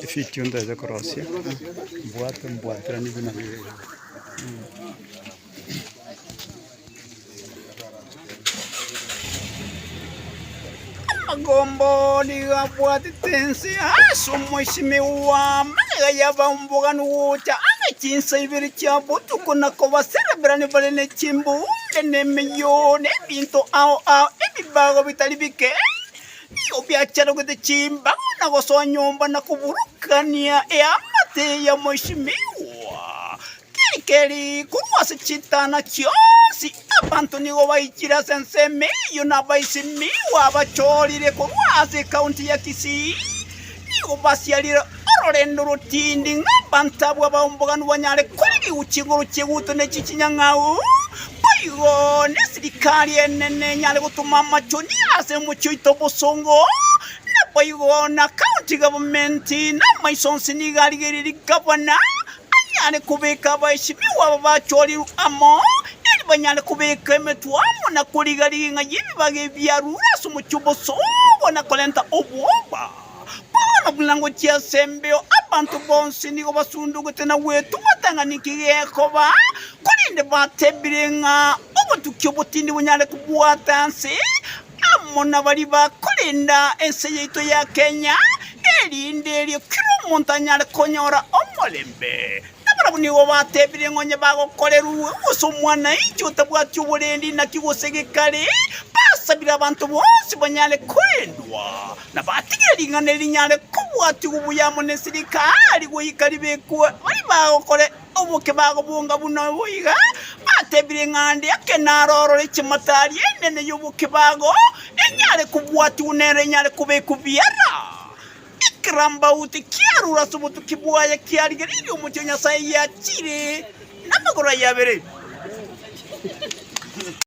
Efidio ntaete korosia, mbwate mbwateranie buna bibe. Amagomba oo nigo abwatete ense ase omoisimi bw'amagega y'abaumboganwa gocha ase chinsa ibere chia botuko na kobasereberani bare ne chimbuunge, na emeyoo, na ebinto ao ao ebibago bitari bike nigo biacharogete chimbago na gosonyomba na koburukania eamate y'omoisimi oo. Keri, korwa ase chitana chionsi abanto nigo baichire ase ensemo eyio na abaisimiwa abachoorire korwa ase ekaunti ya Kisii nigo basiarire ororendo rotindi ng'a abanto abwo abahomboganu banyare koirigwa chinguru chieguto ne chichinyang'au, boigo nesirikari enene enyare gotoma amachoni ase omochie oito obosongo, naboigo na county government namaiso onsi nigo arigereiri gavana. Nanyare kobeka abaesebiwa aba bachorirwe amo, erio banyare kobeka emetwe amo na koriga-riga ing'a y'ebibaga ebi biarure ase omochie o bosogo na korenta obwoba. Bono buna ngochia ase embeo abanto bonsi nigo basundugete na gwetung'atang'ania kegekoba, korende batebire ng'a obotukia obotindi bonyare kobwata nse, amo nabaria bakorenda ense yaito ya Kenya, erinde erio kera omonto anyare konyora omorembe. Nabarabwo nigo batebire ng'a onye bagokorerwe gose omwananchi otabwati oborendi naki gose gekari, basabire abanto bonsi banyare korendwa, na batigire ring'ana eri rinyare kobwatigwa buya amo ne sirikari, goika ribekwe baria bagokora Oboke bagobonga buna oboiga, batebire ng'a ande ake naro orore chimatari enene y'oboke bago enyare kobwatigwa nero enyare kobekwa biara. Ekerambauti kiarure ase obotuki bwaye kiarigereirie omochie o Nyasaye yachiire namagoro aye abere.